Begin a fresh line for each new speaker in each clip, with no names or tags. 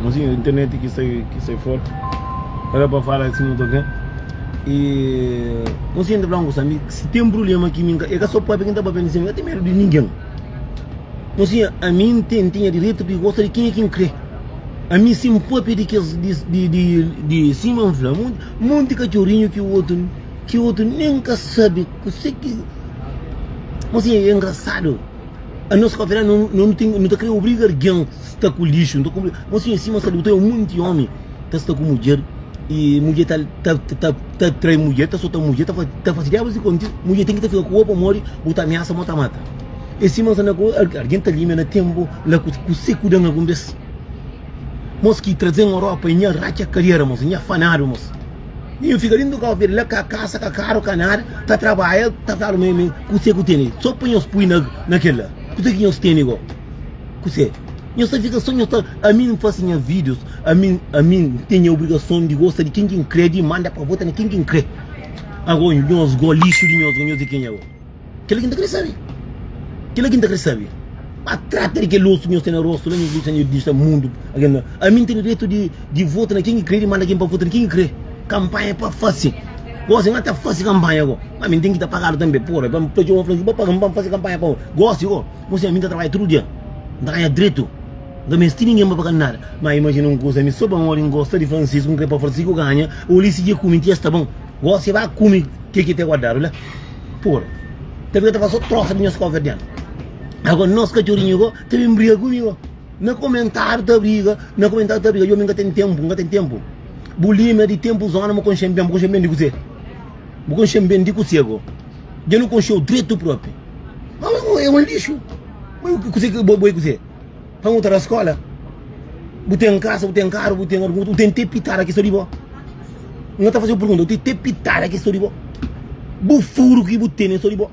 Mozinho, internet ki sai, ki sai for Era pa fala si mutu ok E Mozinho ta fla un kusa mi Si ten prubléma ki mi n ka E ka so pape ki n ta pape Mozinho, mi ka ten medu di ningen Mozinho, ami n ten, tinha diretu di gosta di kenha ki n kre Ami si n pape di kes, di, di, di, di Sima n fla monti, monti katxorinhu ki otu, ki otu nen ka sabe kuse ki Mozinho, e ngrasadu Anos pa fela no no tem no ta crer obriga argen sta ku lixo no ta cobri mas sim assim mas ta tem monte homem ta sta ku mulher e mulher ta ta ta ta trai mulher ta sota mulher ta ta faci diabos e conti mulher tem ki ta fica ku bo pamodi bo ta ameaça mo ta mata e assim mas na ku argen ta limia na tempo la ku ku se ku dan algun bes mos ki trazen Europa e nha raca carreira mos nha fanado mos Mi N fika dentu kaofi la ka kasa ka karu ka nada ta trabadja ta flalu mi mi kuse ku tene so pa nhos pui na na kel la kuse ki nhos tene go kuse nhos ta fika so nhos ta ami N fasi nha videos ami ami N ten nha obrigason di gosta di ken ki N kre di manda pa vota na ken ki N kre ago nhos go lixu di nhos go nhos di kenha go. Kel-la ki N ta krê sabe. Kel-la ki N ta krê sabe. Má trata di kel osu ki nhos ten na róstu la, nhos disa, nhos disa mundu. Ami N ten direitu di vota na ken ki krê, di manda ken pa vota na ken ki krê. Kanpanha é pa fase. Gósi, N ka ta fase kanpanha go. Má mi N ten ki ta pagadu tanbe. Pode, pa N fla txeu, N ba paga mi pa N fase kanpanha pa bo. Gósi, Ó, mos ten ami N ta trabadja tudu dia. N ta ganha dretu. N ka meste ningen pa paga-m nada. Má imajina un kuza, ami sô pamodi N gosta di Francisku, N krê pa Francisku ganha, ô li si dja kume ti, es ta bon. Gosi ba kume ke ki te guardadu la por ta fika ta fasi so trosa di nhos kofia di dianti ago nhos kachorinhu go ta bin briga ku mi go na komentariu ta briga na komentariu ta briga yo mi ka ten tempu ka ten tempu bu limia di tempu zona bu konxen ben bu konxen ben di kuse bu konxen ben di kuse go dja nu konxeu dretu propi ma bo e un lixu ma kuse bo bo e kuse. Pa un ta na skola Bu ten kasa, bu ten karu, bu ten argutu, bu ten te pitada ki sta di bo N ta fase-u pergunta, bu ten te pitada ki sta di bo Bu furu ki bu tene sta di bo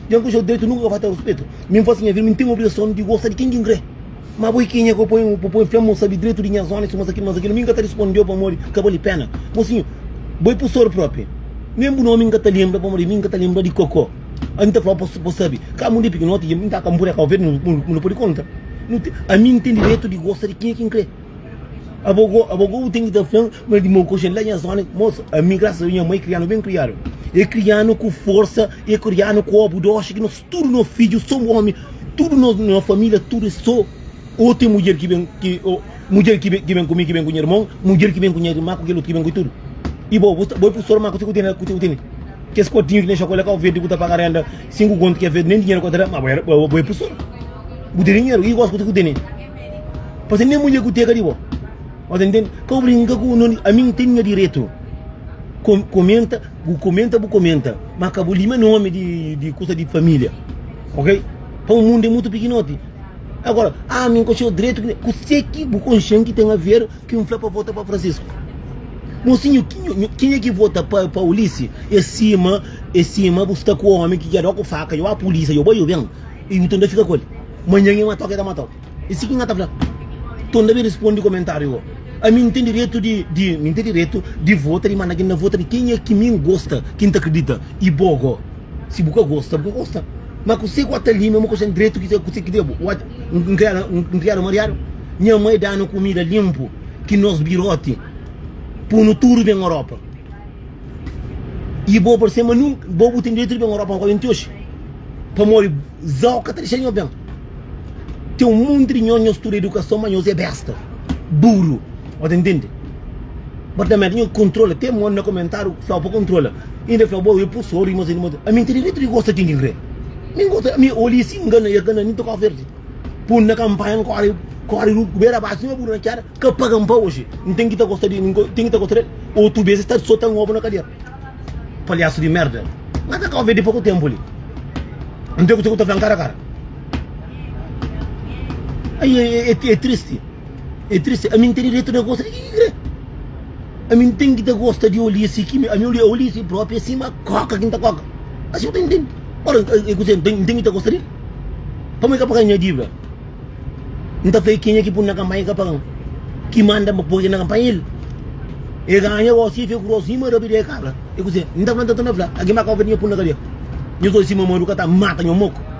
Dja N konxe-u dretu, nunka ka falta-u ruspetu Mi N fase nha vida, mi N ten obrigason di gosta di ken ki N kre Ma bo é kenha ku poi-m, pa poi-m fla-m, sabe dretu di nha zona, si masa kili, masa kila Mi N ka ta risponde-u pamodi ka bali pena Mosinhu, bo é pusor propi, nen bu nomi N ka ta lenbra pamodi mi N ka ta lenbra di koko. ami nta fla bo bo sabe ka munde piki noti ki ami nta ka npure ka ovedu mu no pudi konta nu ten ami nten diretu di gosta di kin ki nkrê abo go abo go bu ten ki ta flan ma di mau koxi la nha zona moso ami grasas a deus nha mai krianu ben kriadu e krianu ku forsa e krianu ku obu doxi ki nos tudu nos fidju so omi tudu nos nos familia tudu e so o ten mudjer ki ben ki o mudjer ki ben ki ben ku mi ki ben ku nha irmon mudjer ki ben ku nha irma ku kel otu ki ben ku tudu i bo bo bo i pur sor ma ku se ku tene ku se ku tene Kes kotinhu ki ten xokolé ka ovedu ku ta paga renda sinku kontu ki ovedu nen dinheru ka ta da ma bo é pusor bu tene dinheru ki gosi ku tene pa sen nen mulher ku teka di bo bo ta ntende ka bu brinka ku no ami n ten nha diretu komenta bu komenta bu komenta ma ka bu lima nomi di kusa di familia ok pa mundu é mutu pikinoti agora ami n ka txeu diretu kusé ki bu konxenti ten aver. Ki N fla pa vota pa Francisco. Mosinho kenha ki vota pa Ulisses e sima e sima bu sta ku omi ki jadó ku faka yo a polícia yo bai yo ben e u ta nda fika ku el manhan e matau ke ta matau e si ki nha ta fla to nda ben respondi komentario ho ami N ten diretu di di mi ten diretu di vota di manda ki nda vota di kenha ki mi N gosta ki N ta kridita e bo go si bu ka gosta bu ka gosta ma kuse ku a ta li mesmu ku sen diretu kuse kuse ki diabu. un kriada un kriada mariadu nha mai danu kumida linpu ki nos biroti punu tudu ben oropa ibo parse ma nunka bo bu ten direitu di ben oropa ma bu ka ben ti oxi pamodi zau ka ta dexa nho ben ten un monti di nhos nhos studa idukason ma nhos e besta buru bo ta ntende bo ta menti nho kontrola te mon na komentariu flau pa kontrola inda fla bo e pursor ami ten direitu di gosta ken ki kre. Mi gosi ami olha i sin gana ia gana mi ta kó verdi pun na kanpanha n kóri kóri ku bera baxi sima buru na kera ka paga-m pa oji n ten ki ta gosta di n ten ki ta gosta di el otu bes es ta sota n obu na kadiera palhasu di merda na ta kó verdi poku ténpu li n ten kuzê ku ta fla-m kara kara ai e tristi. É tristi, ami N ten direitu na gosta di ki ki krê Ami N ten ki ta gosta di olha si ki mi ami olha olha si propi é sima koka ki N ta koka Asi bu ta intendi Ora é kuze N ten ki ta gosta di el Pamodi ka paga nha dívida N ta fla el kenha ki pun-m na kanpanha ki ka paga-m Ki manda-m pa poi el na kanpanha é el É ganha gosi, é fia ku gosi, ima rabi di é kabra É kuze N ta fla N ta torna fla Algen ba ka obi di nha pun na kadia Nhos oji si mamadu ka ta mata nho moku.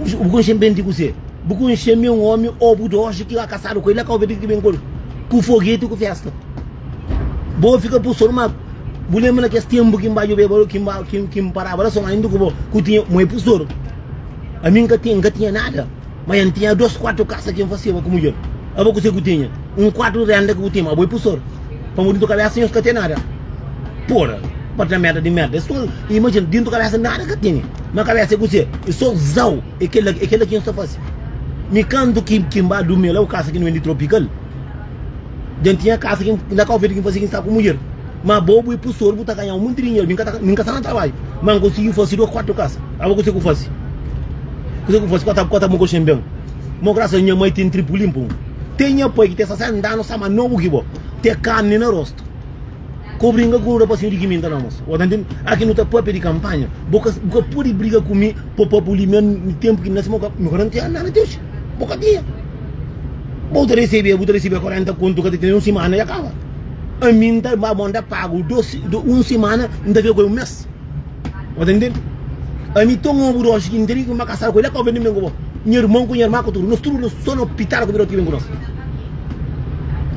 Bu konxe-m ben di kuzê? Bu konxe-m é un ómi óbu d'óji ki ka kasadu ku el, el ka óbi di ki ki ben ku el, ku fogeti, ku fésta. Bo fika bu sonu má bu lenbra na kes ténpu ki N ba djobeba lo, ki N ba, ki N, ki N paraba la sô, ma inda ku bo, ku tinha, mo é pus dóru. Ami N ka tinha, N ka tinha nada. Ma N tinha dos kuatu kasa ki N fasiba ku mudjer. Aba kuse ku tinha? Un kuatu renda ki bu tinha. Abo i pusor. Pamodi dintu kabesa nhos ka ten nada. Pura! Apartamenta di merda. Es txon imajina, dintu kabesa nada ka ten. Ma kabesa e kuse? E so zau. E kela, e kela ki nhos ta fasi. Mi kantu ki N ba durmi la, bu kasa ki N wendi Tropical. Djenti nha kasa kin inda ka ofende kin fase kin sta ku mudjer ma bo bu e pustor bu ta ganha un monti dinheru min ka ta min ka sta na trabadju ma n konsigi fase dos kuatu kasa abo kuse ku fase kuse ku fase kua ta kua ta mokoxen ben mo grasas nha mai ten tripu linpu un ten nha pai ki ten 60 anu sta ma nobu ki bo te karni na rostu ko bringa ku un rapasinhu di kiminta na mos bo ta ntende aki nu ta papia di kanpanha bo ka bu ka pudi briga ku mi pa pa bu limia tempu ki nasci mi ka mi ka na tinha nada ti oxi bo ka tinha. Bo ta resebê, bu ta resebê 40 kontu ka ta tene un simana dja kaba. Ami n ta ba, bo n ta pagu dos, un simana n ta fika ku el un mes. Bo ta ntende? Ami ten un obu dosi ki n teria ki ba kasadu ku el, el ka obi nen ben ku bo. Nha irmon ku nha irma ku tudu, nos tudu nos so na opital ku bira ot ki ben ku nos.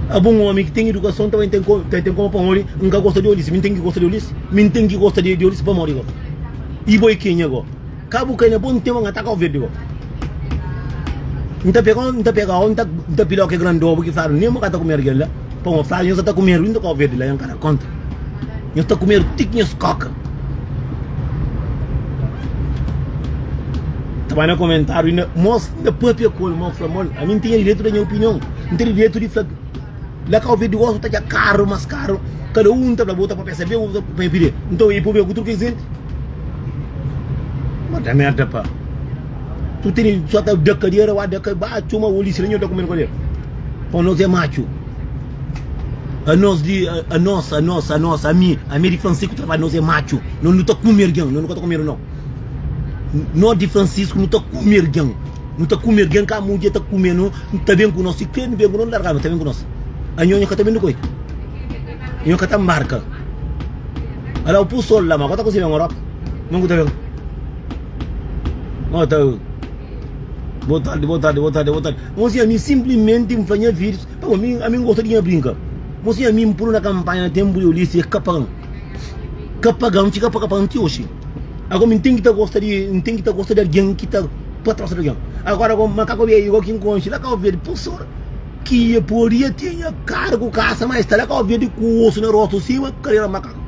Abo un omi ki ten idukason ta bai ten ko, ta ten kuma pamodi n ka gosta di olis. Mi n ten ki gosta di olis? Mi n ten ki gosta di olis pamodi bo i bo i kenha go? Ka bu ka nha pon teu nga ta kau verde gó N ta pegau N ta pegau N ta pilhau ke grande obu ki fladu nemo ka ta kumeru kel la pa mo fladu nhos sa ta kumeru inda kau verde la nha ka da konta nhos ta kumeru ti ki nhos koka ta bai na komentariu inda mos inda papia ku el mo fla mo ami N tinha direitu da nha opinion N tene direitu di fla. La kau ve divorsu ta dja karu mas karu kada un ta fla bu ta papia sabe u ta papia pide nton i papia ku tudu kes jente ma ta merda pa tu tene so ta da kadiera wa da ka ba txoma u lixi la nho ta kume kadiera pa nos e matxu a nos di a nos a nos a nos ami ami di fransiku trabadja nos e matxu no nu ta kume algen no nu ka ta kumedu no. Nos di Francisco nu ta kume algen, nu ta kume algen ka mudje ta kume no, no ta ben ku nos, si kre nu ben ku nos nu largaba ta ben ku nos. Anho nho ka ta ben dukoi, nho ka ta marka. Ala u pu sol la ma ku ta kusi ben Europa, mon ku ta ben. Nho ta Boa tarde, boa tarde, boa tarde, boa tarde. Mon si ami simplimenti n fla nha fidjus, pabo ami, ami n gosta di nha brinka. Mon si ami n pulu na kanpanha na tenpu di Ulisses e ka pagan. ka paga mi fika paga paga ti oxi ago mi ten ki ta gosta di mi ten ki ta gosta di algin ki ta pa tras di algin agora ago ma ka ku abiayi ago ki n konxe la kau berde pusur ki e podi e tinha karu ku kasa ma e sta la kau berde ku osu na rostu sima karera makaku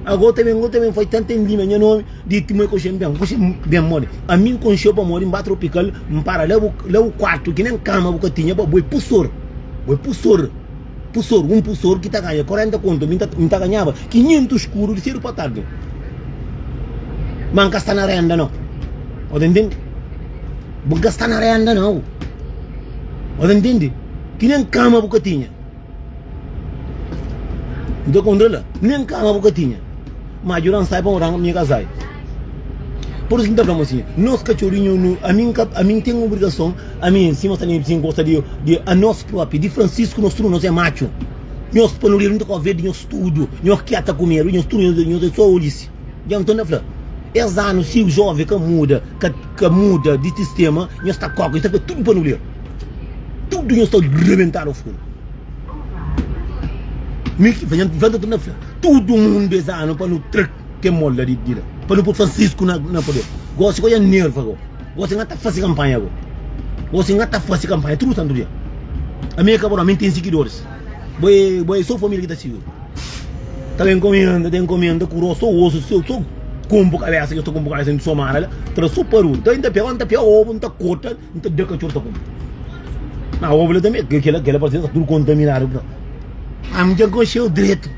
ago ta bin ago ta bin fai tanta n lima nha nomi di ti ma e konxe ben konxe ben modi ami n konxeo pamodi n ba tropikal n para la bu la bu kuartu ki nen kama bu ka tinha pa bu e pusur bu e pusur Purfesor, un purfesor ki ta ganha 40 konta, mi N ta ganhaba 500 skuru di sedu pa tardi. Ma N ka sta na renda nau. O ta ntende? Bu ka sta na renda nau. O ta ntende? Ki nen kama bu ka tinha. N ta kontra la, nen kama bu ka tinha. Ma djuda-m sai pa N oda, mi ka sai. Purfesor, N ta fla-m asin, nos katxorinhu nu, ami N ka, ami N ten obrigason. Ami si nos ta nebe si gosta di di anos propi di Francisco nos tudu nos é macu nos pa no rir nunka ka ovi di nos tudu nos kia ta ku medu nos tudu nos é so olhisi ja nton ta fla es anu si o jovem ka muda ka ka muda di sistema nos ta koka nos ta fla tudu pa no lir tudu nos ta rebentadu fun mi ki fla nton ta fla tudu mundu es anu pa no tra ke mola di di la pa no pur Francisco na na poder gosi ko ja nerva go. Gosi N ta fase kanpanha bo Gosi N ta fase kanpanha tudu santu dia Ami é ka bo nau, mi N ten sigidoris Bo é, bo é so familia ki ta sigi-u Ta ben komenda, ta enkomenda ku ros so osu Sô so kunpu kabesa ki N sta kunpu kabesa N somada la, ta da so paru N ta, N ta pega, N ta pega obu N ta korta, N ta da katxor ta kume Nau obu la tanbe, kela, kela parse sa tudu kontaminadu Ami dja gosi-u dretu.